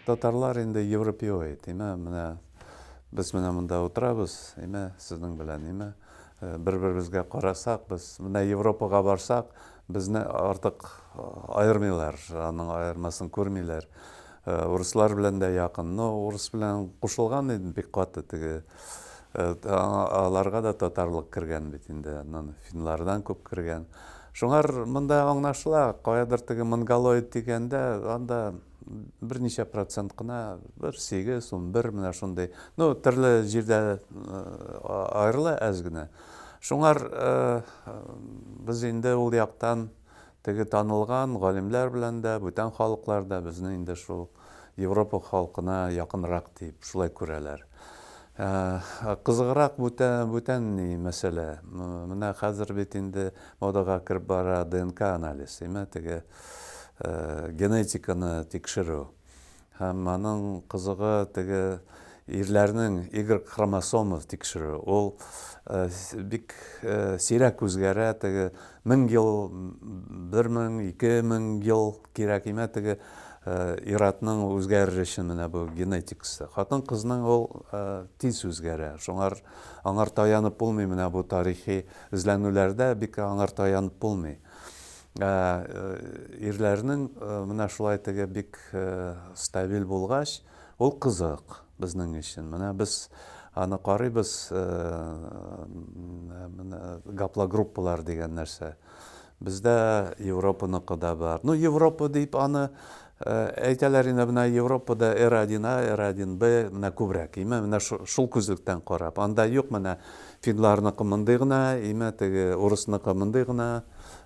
Татарлар инде европеоид, имә, менә без менә монда утырабыз, имә, сезнең белән, имә, э, бер-беребезгә карасак, без менә Европага барсак, безне артык э, аермыйлар, аның аермасын күрмиләр. Урыслар белән дә якын. Но урыс белән кушылган иде бик каты теге. Аларга да татарлык кергән бит инде. Аннан финлардан күп кергән. Шуңар монда аңлашыла, каядыр теге монголоид дигәндә, анда берничә процент кына, бер сигез, унбер, менә шундый. Ну, төрле җирдә аерыла әз генә. Шуңар без инде ул яктан Теге танылган галимләр белән дә, бүтән халыклар да безне инде шул Европа халкына якынрак дип, шулай күрәләр. Кызыграк бүтән, бүтән ни мәсьәлә. Менә хәзер бит инде модага кереп бара ДНК анализ, име, теге генетиканы тикшерү. Һәм аның кызыгы теге ирләрнең Y хромосомы тикшерү. Ул бик сирәк үзгәрә, теге мең ел, бер мең, ике мең ел кирәк имә теге ир-атның үзгәреше менә бу генетикасы. Хатын-кызның ул тиз үзгәрә. Шуңар аңар таянып булмый менә бу тарихи эзләнүләрдә бик аңар таянып булмый. Ә, э, ирләрнең э, менә шулай теге бик э, стабиль булгач, ул кызык безнең өчен. Менә без аны карыйбыз, э, менә гаплогруппалар дигән нәрсә. Бездә Европаныкы да бар. Ну, Европа дип аны Әйтәләр инде менә Европада R один A, R один B менә күбрәк име менә шул күзлектән карап. Анда юк менә финларныкы мондый гына име теге урысныкы мондый гына,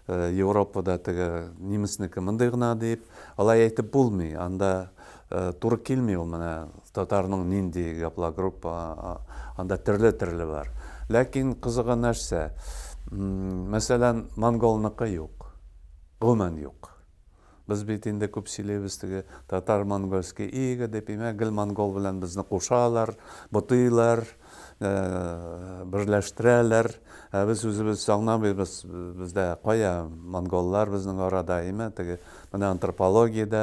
Европада теге немецнеке мондый гына дип, алай әйтеп булмый. Анда туры килми ул менә татарның нинди гаплогруппа анда төрле төрле бар. Ләкин кызыгы нәрсә? Мәсәлән, монголныкы юк. Гомумән юк. Без бит инде күп сөйлибез, теге татар-монгольский ига дип, имә, гел монгол белән безне кушалар, ботыйлар, берләштерәләр, ә без үзебез аңламыйбыз, бездә кая монголлар безнең арада, имә, теге, менә антропология дә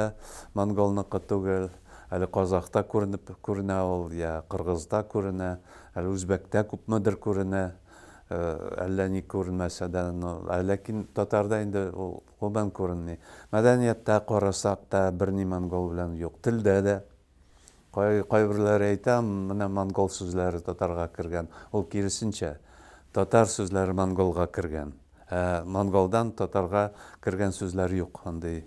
монголныкы түгел, әле казахта күренеп күренә ул, йә кыргызда күренә, әле үзбәктә күпмедер күренә, әллә ни күренмәсә дә, но, ә ләкин татарда инде ул, Кулдан күренми. Мәдәнияттә карасак та, берни монгол белән юк. Телдә дә. Кай, кайберләре әйтә, менә монгол сүзләре татарга кергән. Ул киресенчә, татар сүзләре монголга кергән. Ә монголдан татарга кергән сүзләр юк, андый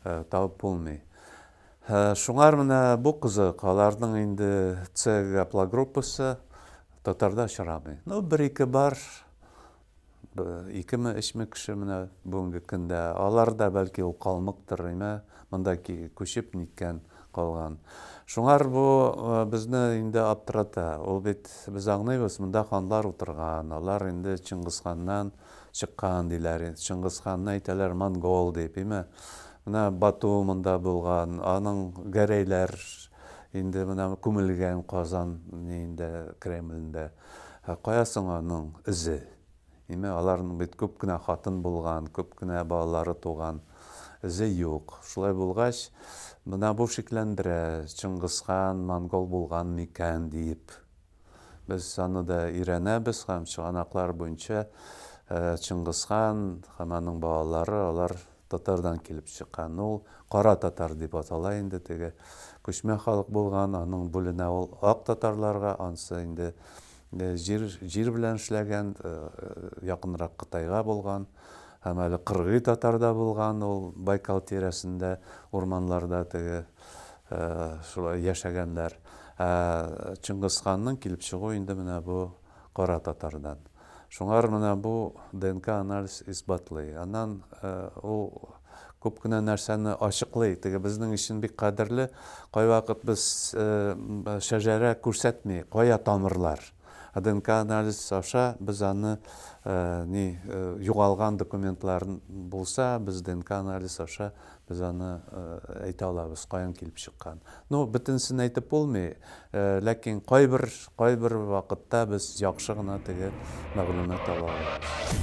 табып булмый. Шуңар менә бу кызык, аларның инде цггаплогруппасы татарда очрамый. Ну, бер-ике бар, Икеме, өчме кеше менә бүгенге көндә. Алар да бәлки ул калмыктыр, әйме, монда күчеп ниткән, калган. Шуңар бу безне инде аптырата. Ул бит без аңлыйбыз, монда ханлар утырган, алар инде Чыңгызханнан чыккан диләр. Чыңгызханны әйтәләр монгол дип, әйме. Менә Бату монда булган, аның Гәрәйләр инде менә күмелгән Казан инде Кремлендә. Ә кая соң аның эзе? Димәк, аларның бит күп кенә хатын булган, күп кенә балалары туган. Эзе юк. Шулай булгач, менә бу шикләндерә, Чыңгызхан монгол булган микән диеп. Без аны да өйрәнәбез һәм чыганаклар буенча Чыңгызхан һәм аның балалары, алар Татардан килеп чыккан ул. Кара татар дип атала инде теге. Күчмә халык булган, аның бүленә ул ак татарларга, ансы инде җир, җир белән эшләгән, якынрак Кытайга булган. Һәм әле кыргый татар да булган ул, Байкал тирәсендә, урманларда теге шулай яшәгәннәр. Ә Чыңгызханның килеп чыгуы инде менә бу кара татардан. Шуңар менә бу ДНК анализ исбатлый. Аннан ул күп кенә нәрсәне ачыклый. Теге безнең өчен бик кадерле, кайвакыт без шәҗәрә күрсәтми, кая тамырлар. Ә ДНК анализ аша без аны ни югалган документлар булса, без ДНК анализ аша Без аны әйтә алабыз, каян килеп чыккан. Ну, бөтенесен әйтеп булмый, ләкин кайбер, кайбер вакытта без яхшы гына теге мәгълүмат ала алабыз.